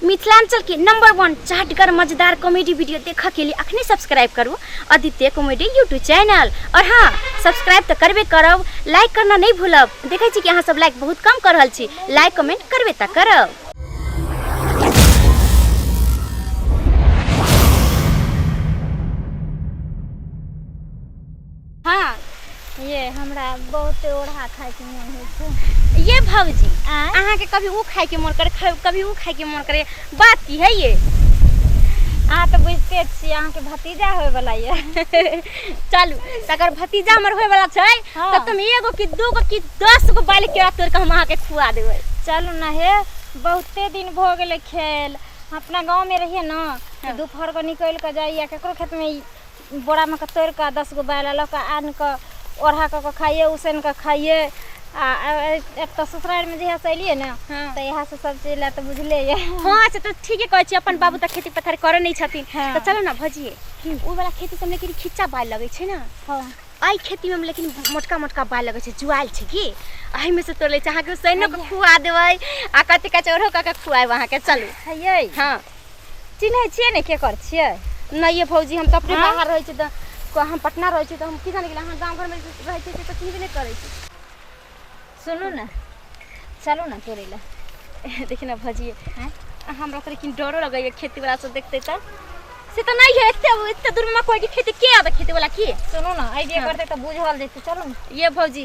मिथिलांचल के number one चाटगर मजेदार कॉमेडी वीडियो देखा के लिए अखने सब्सक्राइब करू आदित्य कॉमेडी यूट्यूब चैनल और हाँ सब्सक्राइब तो करबे करब लाइक करना नहीं भूलब देखे छी कि अहाँ सब लाइक बहुत कम कर रहल छी लाइक कमेंट करबे तो करब हँ ये हमरा बहुते ओढ़ा खायके मोन होइ छै ये भौजी आँय? अहाँके कभी ओ खायके मोन करे खा- कभी ओ खायके मोन करे बात की है ये अहाँ तऽ बुझिते छियै अहाँके भतीजा होयवला यऽ चलू तकर भतीजा हमर होयवला छै हँ। तऽ तुम एगो कि दूगो कि दस गो बाल केरा तोड़ कऽ हम अहाँके खुआ देबै चलू ने हे बहुते दिन भऽ गेलै खेल अपना गाँवमे रहियै ने तऽ दुपहर कऽ निकलि कऽ जाइए ककरो खेतमे बोरामे कऽ तोड़ि कऽ दस गो बालि लऽ कऽ आनि कऽ ओढ़ा कऽ कऽ खाइए उसैन कऽ खाइए आ एतऽ ससुरारिमे जहिया से एलियै ने हँ। तऽ इएह से सब चीज लए तऽ बुझले ये हँ से तऽ ठीके कहै छी अपन बाबू तऽ खेती पथारी करै नहि छथिन हँ। तऽ चलऽ ने भजिए की? ओ वाला खेती सबमे लेकिन खिच्चा बालि लगै छै ने हँ एहि खेतीमे हम लेकिन मोटका मोटका बालि लगै छै जुआएल छै की एहिमे से तोड़ लै छै अहाँके उसैनो कऽ खुआ देबै आ कथी कहै छै ओढ़ो कऽ के खुआएब अहाँके चलू हयै हँ चिन्है छियै ने के कर छियै नहि ये भौजी हम तऽ अपने हाँ? बाहर रहै छी तऽ क- हम पटना रहै छी तऽ हम की जानै गेलियै अहाँ गाँव घरमे रहै छी तऽ चिन्हबे नहि करै छी सुनू ने चलू ने तोड़ै लए देखिन ने भौजी हैं? हमरा तऽ लेकिन डरो लगैए खेतीवला सब देखतै तऽ से तऽ नहि है एते एते दूरमे मकइके खेती के आबै खेतीवला की सुनू ने आइडिया करतै तऽ बुझल जेतै चलू ने ये भौजी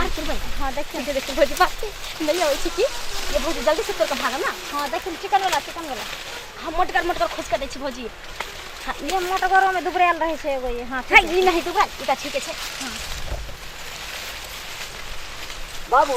अरे तू भाई हां देख के देख भोज बात के नहीं होई छी की ये भोज जल्दी से तोर के भागम ना हां देख चिकन वाला चिकन वाला हम मोटकर मोटकर खोज कर दै छी भोजी हाँ, ये मोटकर में दुबरेल रहे छै एगो ये हां हां ई नहीं दुबरेल ई त ठीक छै हां बाबू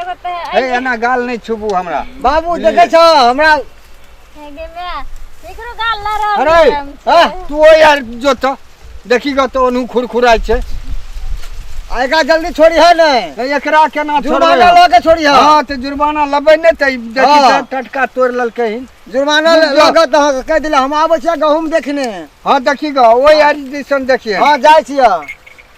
एगो तो ए है एना गाल नहीं छुबू हमरा बाबू देखे छो हमरा है गे मैं एकरो गाल ला रहा अरे हाँ, तू ओ यार जो तो देखी ग तो ओनहु खुरखुराई छे आएगा जल्दी छोड़ी है ने ए, एकरा केना जुर्माना छोड़बै हम? लो के छोड़ी है हाँ तो जुर्माना लेबै ने तऽ ई देखी हाँ। तऽ टटका तोड़ ललकै हिन जुर्माना जुर्माना। लो के तो कह दिला हम आबे छियै गहूम देखने हाँ देखी ग ओ यार जैसन देखिए हाँ जाय छियै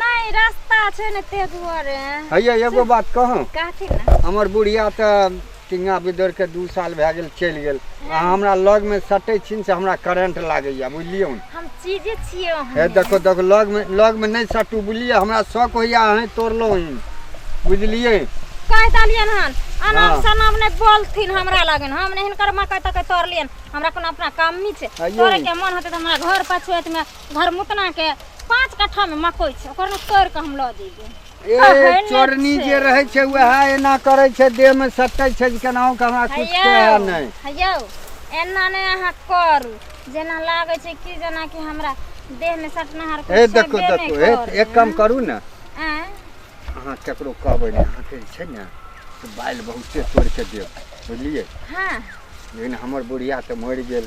नहीं रास्ता छे ने ते दुआरे हैया एगो बात कहूँ कहथि ना हमर बुढ़िया तो टिंगा बिदर के दू साल भए गेल चलि गेल आ हमरा लग में सटै छिन से हमरा करंट लागैया बुझलियौ ने हम चीजे छिए हे हम देखो देखो लग में लग में नहीं सटू बुझलियै हमरा शौक होइया अहें तोड़लहुँ हन बुझलियै कह दलियन हन हाँ। अनाम सनाम ने बोलथिन हमरा लगन हम ने हिनकर मकई तकई तोड़लियन हमरा कोनो अपना काम नहीं छे अइयो। तोड़े के मन होते तो हमरा घर पछुएत में घरमुतना के पाँच कट्ठा में मकई छै ओकर ने तोड़ के हम लऽ जेबै ए कहै नहि चोरनी छै। जे रहै छै वएह एना करै छै देह में सटै छै जे केनाहु के हमरा कुछ कहे हैयौ नहि हैयौ एना नहि अहाँ करू जेना लागै छै कि जेना कि हमरा देह में सटनहार ए कुछ देखो छेबे देखो नहि ए करै। एक काम करू ने आँय? अहाँ केकरो कहबै नहि अहाँके जे छै ने से बालि बहुते तोड़ि कऽ देब बुझलियै हँ लेकिन हमर बुढ़िया तऽ मरि गेल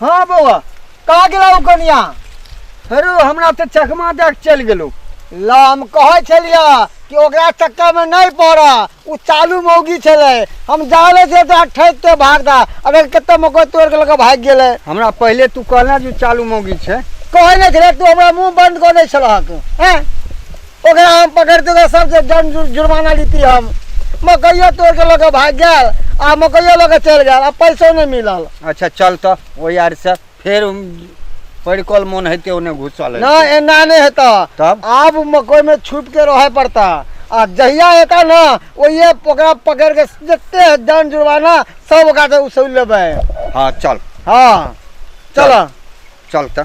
हाँ बौआ कहा गेला ओ कनिया हेरो हमरा तऽ चकमा दए के चलि गेलौ ला हम कहै छलिया कि ओकरा चक्कर में नहीं पड़ा उ चालू मौगी छले हम जाले से तो ठैक के भाग दा अगर कत्ते मको तोड़ के लगे भाग गेले हमरा पहिले तू कहला जे चालू मौगी छै कहै नहि छले तू हमरा मुंह बंद कऽ दै छलहक हैं ओकरा हम पकड़ते तऽ सबसे दंड जु- जुर्माना लीती हम मकइयो तोड़ के लऽ के भाग गेल आ मकइयो लऽ के चल गेल आ पैसो नहि मिलल अच्छा चल तऽ ओहि आर से फेर हम परिकल मोन हेतै ओने घुसल ना हेतै। एना नहि हेता तब आब मकई में छुप के रहे पड़ता आ जहिया एता ना ओहिए ओकरा पकड़ के जते दंड जुर्माना सब ओकरा से उसूल लेबै हाँ चल हाँ चल चल तऽ